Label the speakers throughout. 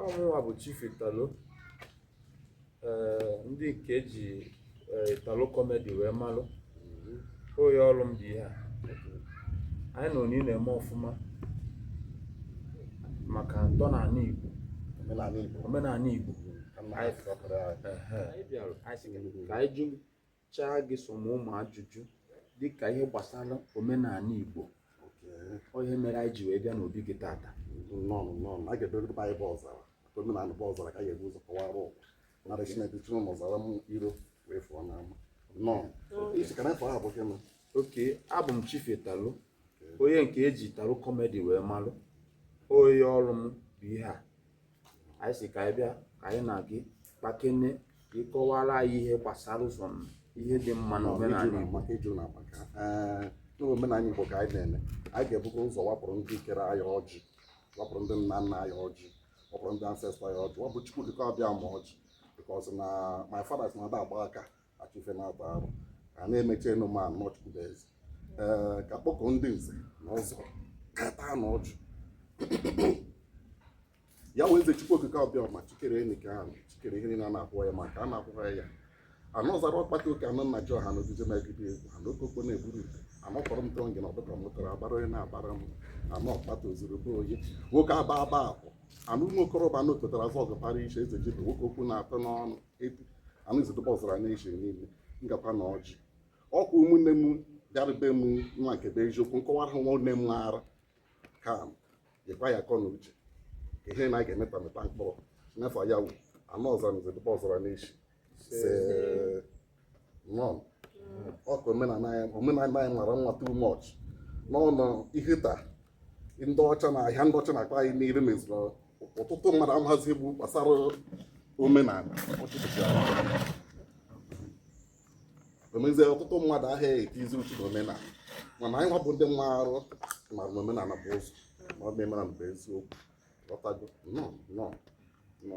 Speaker 1: ọ mụnwa bụ Chief Italo ee ndị nke e ji ee, Italo comedy wee malụ onye ọrụ m dị ihe a anyị nọ niile eme ọfụma maka ntọnala Igbo omenala Igbo omenala Igbo ka mma ha si ọkara ya. Ehe. anyị bịara anyị sị ka anyị jụ chaa gị some ụmụ ajụjụ dịka ihe gbasara omenala Igbo ihe mere anyị ji wee bịa n'obi gị tata a
Speaker 2: ga-edoro ndị anyị bụ ọzara maka omenala bụ ọzara ka a ga-ebu ụzọ kọwara ụwa mara Chineke chụrụ na ọzara m iro wee fụọ n'ama isi ka na-efe aha bụ gị nọ okay abụ
Speaker 1: m Chief Italo onye nke e ji Italo comedy wee malụ onye ọrụ m bụ ihe a anyị sị ka anyị bịa ka anyị na gị kpakene ka ị kọwara anyị ihe gbasara some ihe dị mma na omenala
Speaker 2: Igbo n'omenala Igbo ka anyị na-eme anyị ga-ebukwa ụzọ wapụrụ ndị kere anyị ọjị wapụrụ ndị nna nna anyị ọjị wapụrụ ndị ancestor anyị ọjị wapụrụ Chukwu okike abịama ọjị because na my father sị na a da agba aka achụ ife na-ata arụ a na-emecha ịnụ ma na ọ Chukwu bụ eze ee ka kpọkọ ndị nze na ọzọ ka taa na ọjị ya wee eze chukwu okike abịama chi kere enyi ka ahụ chi kere ihe niile a na-ahụ anya ma nke a na-ahụghị anya anụ ọzara ọkpata oke anụ nna ji ọha n'ogige megide egwu ha n'okoko na-eburu ite anọkọrọ m tọngị na ọdụka mụtara abara onye na-abara m anọ ọkpata ozuru bụ onye nwoke aba aba akwụ anụ ụmụ okorobịa anụ tụtara vọgụ para iche eze jibe nwoke okwu na-atọ n'ọnụ anụzidụbọzara n'eji niile ngakwa na ọjị ọkwa ụmụnne m bịara be m nwa nke bụ eziokwu nkọwara nwa nne m ara ka m nyekwa ya akọ na uche ka ihe na a ga-emeta mịta mkpụrụ n'afọ ya anụ ọzara nzidụbọzara n'eji isee okay omenala anyị mara mma too much n'ọnụ ihe taa ndị ọcha na ahịa ndị ọcha na-akpa anyị n'iru meziri ọtụtụ mmadụ amazi egwu gbasara omenala o mezie ọtụtụ mmadụ ahịa etizi uchu na omenala mana anyị nwa bụ ndị mma arụ mara na omenala bụ ụzọ na ọ bụ omenala bụ eziokwu ghọtago nọ nọ nọ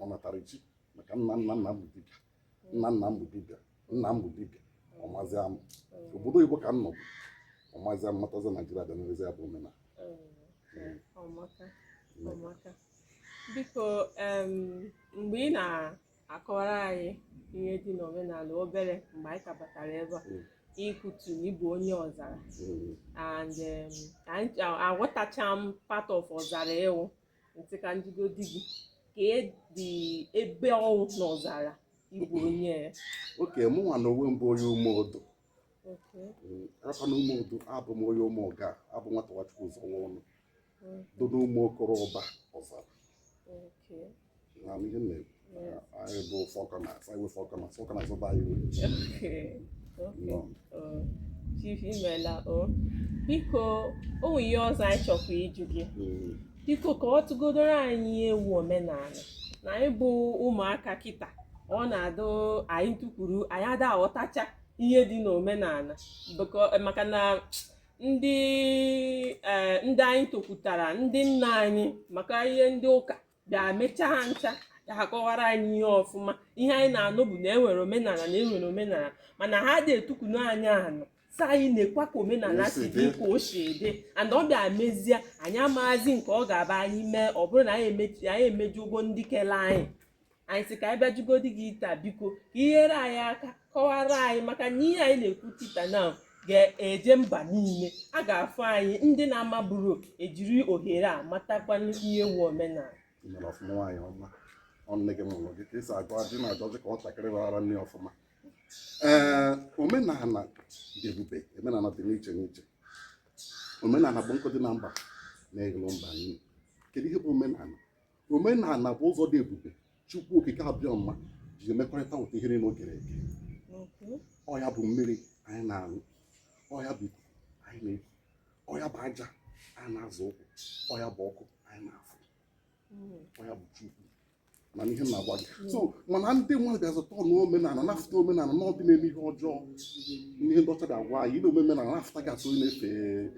Speaker 2: ọ natara chi maka nna nna nna m bụ dibịa nna nna m bụ dibịa nna m bụ dibịa ọmazi amụ obodo oyibo ka m nọbu ọmazi amụ natazi Naijiria bịa n'ezi ya bụ omenala ọ
Speaker 3: maka ọ maka biko em, mgbe ị na-akọwara anyị ihe dị n'omenala obere mgbe anyị ka batara ebe a Mm. i kwutu na ị bụ onye Ọzara Mm, and em, anyị- a- aghọtacha m part of Ọzara ị wụ ntị ka m jụgodi gị kedụ ebe ọ wụ na ọzara ị bụ onye ya okay mụnwa
Speaker 2: na onwe m bụ onye ume odo akwa na ume odo abụ m onye ume ọga abụ nwata nwachukwu ụzọ nwa ọnụ do na ụmụ okoro ụba ọzara
Speaker 3: chief imela o biko o nwere ihe ọzọ anyị chọkwa ịjụ gị hmm. biko kọwatụgodoro anyị ihe wụ omenala na anyị bụ ụmụaka kịta ọ na-adị anyị tụkwuru anyị ada aghọtacha ihe dị n'omenala maka na ndị eh, ndị anyị tokwutara ndị nna anyị maka ihe ndị ụka bịa mechaa ha ncha ka ha kọwara anyị ihe ọfụma ihe anyị na-anụ bụ na enwere omenala na enwere omenala mana ha ada etukunu anyị anụ sị anyị nekwa ka omenala si dị ka o si dị and ọ bịa mezie anyị amaghazị nke ọ ga-abụ anyị mee ọ bụrụ na anyị emechi anyị emejọgo ndị kele anyị anyị sị ka anyị bịa jụgodi gị taa biko ka i nyere anyị aka kọwara anyị maka na ihe anyị na-ekwu tita na ga-eje mba niile a ga-afụ anyị ndị na-amabụrọ ejiri ohere a matakwa ihe wụ omenala mere ọfụma nwaanyị ọma
Speaker 2: ọ nne gị mụrụ gị ka esi agụ adị na-ajụzi ka nwatakịrị raara nne ọfụma ee omenala dị ebube omenala dị n'iche n'iche omenala bụ nkụ dị na mba na-eghelụ mba nri kedu ihe bụ omenala omenala bụ ụzọ dị ebube chukwu okike abịama ji emekọrịta ụta ihe niile o kere eke ọ ya bụ mmiri anyị na-aṅụ ọ ya bụ ikuku anyị na-eku ọ ya bụ aja anyị na-azọ ụkwụ ọ ya bụ ọkụ anyị na-afụ hmm. ọ ya bụ chukwu mana ihe m na-agwa gị hmm. so mana ndị mmadụ bịa zụta ọnụ omenala na-afụta omenala na ọ ndị na-eme ihe ọjọọ ihe ndị ọcha ga-agwa anyị na omenala na-afụta gị atụ na-efe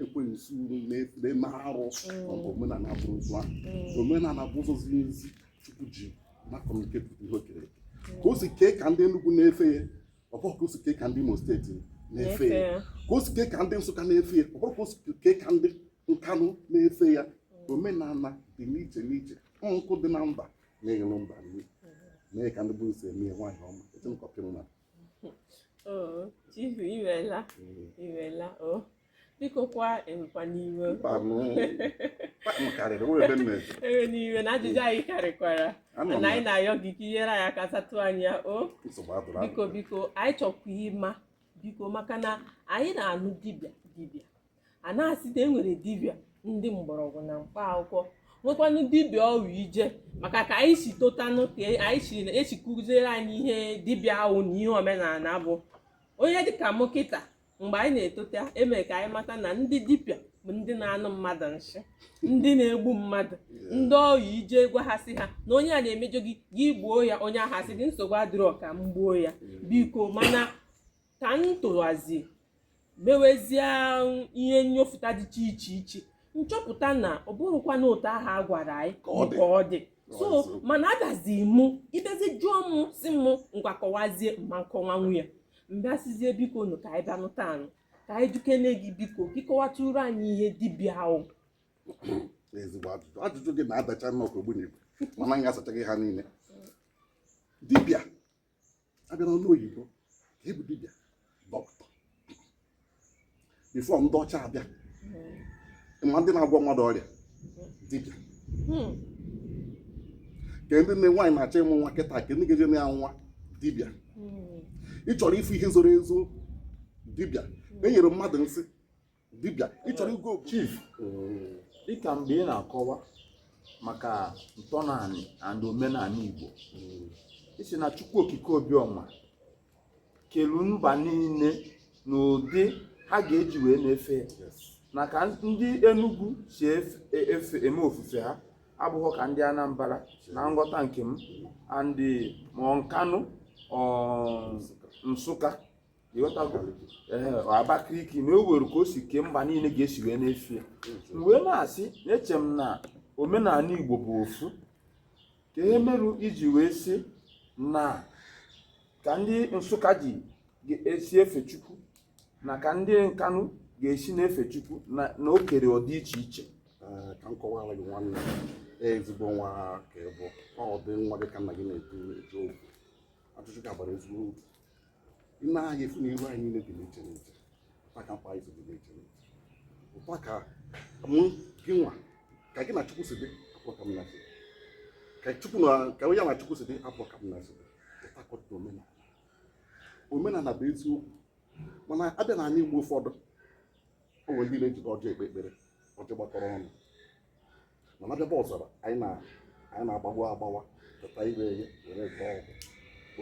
Speaker 2: ekwensu na-eme arụ mm. maọbụ omenala abụrọ ụzọ ahụ mm. omenala bụ ụzọ ziri ezi chukwu ji na-communicate ihe o kere mm. ka o si kee ka ndị Enugu na-efe ya ọ bụghị ka o si kee ka ndị Imo State na-efe ya ka o si kee ka ndị Nsụka na-efe ya ọ bụghị ka o si kee ka ndị Nkanụ na-efe ya omenala dị n'iche n'iche nkụ dị na mba na-eghere mba nri mee ka ndị be unu si eme nwaanyị ọma echenkọpịrị na
Speaker 3: Oh, chief imela imela o oh. biko kwa ewekwana iwe ewena iwe na ajụjụ anyị karịkwara na anyị na-ayọ gị ka i nyere anyị aka satụ anya o oh. biko biko anyị chọkwa ịma biko maka na anyị na-anụ dibịa dibịa a na-asị na e nwere dibịa ndị mgbọrọgwụ na mkpa akwụkwọ nwekwanụ dibịa ọ bụrụ i je maka ka anyị si totanụ ka anyị si kụziere anyị ihe dibịa bụ na ihe omenala bụ onye dịka mụ kịta mgbe anyị na-etota e mere ka anyị mata na ndị dibịa bụ ndị na-enye mmadụ nsị ndị na-egbu mmadụ ndị ọ bụrụ i je gwa ha sị ha na onye a na-emejọ gị gị gbuo ya onye ahụ asị gị nsogbu adịrọ ka m gbuo ya biko mana ka m torozie mewezie ihe nnyofụta dịcha iche iche m chọpụta na ọ bụrọkwanụ otu ahụ a gwara anyị ka ọ dị so mana adazi mụ ị bịazie jụọ m sị m ngwa kọwazie m ma akọwanwu ya m bịa sịzie biko nụ ka anyị bịanụ taa nụ ka anyị jụkene gị biko ka ị kọwatụrụ anyị ihe dibịa
Speaker 2: bụ ezigbo ajụjụ ajụjụ gị na-adacha nnọọ ka ogbunigwe mana m ga-asacha gị ha niile dibịa a bịa n'ọnụ oyibo kee ihe bụ dibịa dọkịta before ndị ọcha abịa hmm. ma ndị na-agwọ mmadụ ọrịa dibịa hmm. kee ndị nne nwaanyị na-achọ ịmụ nwa kịta kee ndị ga-eje ịna ya nwa dibịa hmm. ị chọrọ ịfụ ihe zoro ezo dibịa e nyere mmadụ nsị dibịa ị chọrọ igwe obodo
Speaker 1: chief dịka mgbe ị na-akọwa maka ntọnaanị and omenala igbo ị sị na chukwu okike obiọma kelu mba niile n'ụdị ha ga-eji wee na-efe ya yes na ka ndị Enugu si efe efe eme ofufe ha abụghị ka ndị Anambra na nghọta nke m and ma ọ Nkanụ ọ Nsụka ịghọtago ee Abakaliki na o nwere ka o si kee mba niile ga-esi wee na-efe ya m wee na-asị na-eche m na omenala Igbo bụ ofu kee ihe merụ i ji wee sị na ka ndị Nsụka ji esi efe Chukwu na ka ndị Nkanụ ga-esi na-efe Chukwu na na o kere ọ dị iche iche Ee, ka m kọwara
Speaker 2: gị nwanne ezigbo nwa ka ị bụ ọ dị nwa gị ka nna gị na-eto eto okwu ajụjụ gị a bara ezigbo uru ị na-afụ na iru anyị niile dị n'iche n'iche otu a ka mkpa si dị n'iche n'iche otu a ka mụ gị nwa ka gị na chukwu si dị abụrọ ka m na ya si ka chukwu na ka onye na chukwu si dị abụrọ ka m na ya si dị otu a ka ọ dị na omenala omenala bụ eziokwu mana a bịa n'anị igbo ụfọdụ o nwere ndị na-ejide ọjị ekpe ekpere ọjị gbakọrọ ọnụ mana a bịa be ọzara anyị na-agbawa agbawa pụta ire ya were gba ọgwụ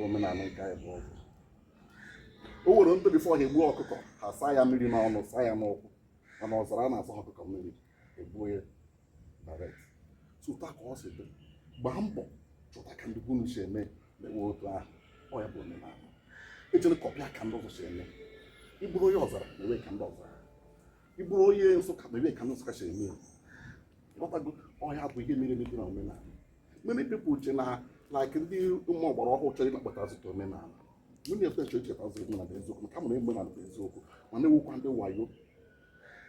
Speaker 2: omenala nke anyị bụ ọgwụ o nwere ndị before ha egbuo ọkụkọ ha saa ya mmiri n'ọnụ saa ya n'ụkwụ mana ọzara anaa asa ọkụkọ mmiri e gbuo ya direct otu a ka ọ si dị gbaa mbọ chọta ka ndị be unu si eme mewe otu ahụ ọ ya bụ omenala ejela kọpịa ka ndị ọzọ si eme ị bụrụ onye ọzara mewe ka ndị ọzara ị bụrụ onye nsụka mewe ka ndị nsụka si eme ya ịghọtago ọ ya bụ ihe mere emebi na omenala many people uche na like ndị ụmụ ọgbara ọhụụ chọrọ ịnakpọta azụta omenala nwunye efe chọrọ icheta azụ omenala bụ eziokwu maka mụrụ omenala bụ eziokwu mana e nwekwa ndị wayo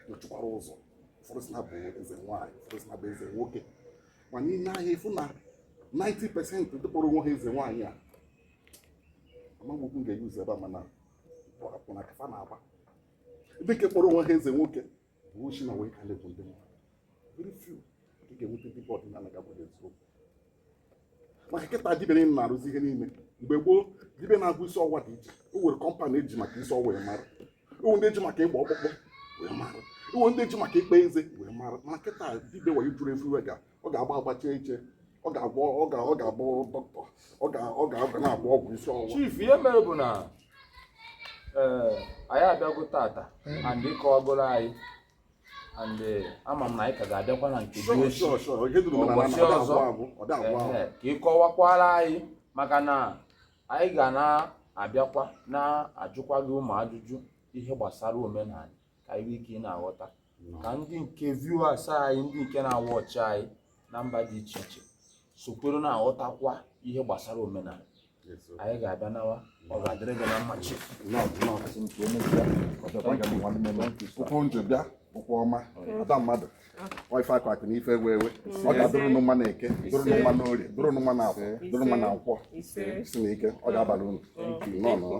Speaker 2: nọchikwara ụzọ ụfọdụ sị na bụ eze nwaanyị ụfọdụ sị na bụ eze nwoke mana i nee anya ị fụ na 90 pesent ndị kpọrọ onwe ha eze nwaanyị a amaghị okwu m ga-eyuzu ebe a mana akwụna ka fa na-agba ndị nke kpọrọ onwe ha eze nwoke bụ oshi na wayo ka na-egbu ndị mmadụ very few ka ị ga-enweta dibịa ọdịnala ga-agwa gị eziokwu maka kịta dibịa niile na-arụzi ihe niile mgbe gboo dibịa na-agwọ isi ọwa dị iche o nwere kọmpanị eji maka isi ọwa wee mara e nwee ndị eji maka ịgba ọkpụkpụ wee mara e nwee ndị eji maka ịkpa eze wee mara mana kịta dibịa wayo juru ofu onye ga ọ ga-agba agbacha iche ọ ga-agba ọ ga ọ ga-abụ dọkịta ọ ga ọ ga-agba na-agba ọgwụ isi ọwụwa chief ihe mere bụ na
Speaker 1: ee anyị abịago taata and ịkọwagoro anyị and eh, ama m na anyị ka ga-abịakwa na nke dị Sure, echi sure, sure. Ihe duru m na na Ụbọchị ọ da-agwụ ọzọ. agwụ, ọ da-agwụ agwụ. Ehe, ka ị kọwakwara anyị maka na anyị ga na-abịakwa na-ajụkwa gị ụmụ ajụjụ ihe gbasara omenala ka anyị nwee ike ị na-aghọta ka ndị nke viewers anyị ndị nke na-awatch anyị na mba dị iche iche sokwere na-aghọtakwa ihe gbasara omenala anyị ga-abịa nawa ọ ga-adịrị gị na mma
Speaker 2: chief ụkwụ unu ji bịa ụkwụ ọma ada mmadụ ọ ife akụ akụ na ife enwe enwe ọ ga-adụrụ nụ mma na eke dụrụ nụ mma na orie dụrụ nụ mma na afọ dụrụ nụ mma na nkwọ si na ike ọ ga-abalị unu nnọọ nnọọ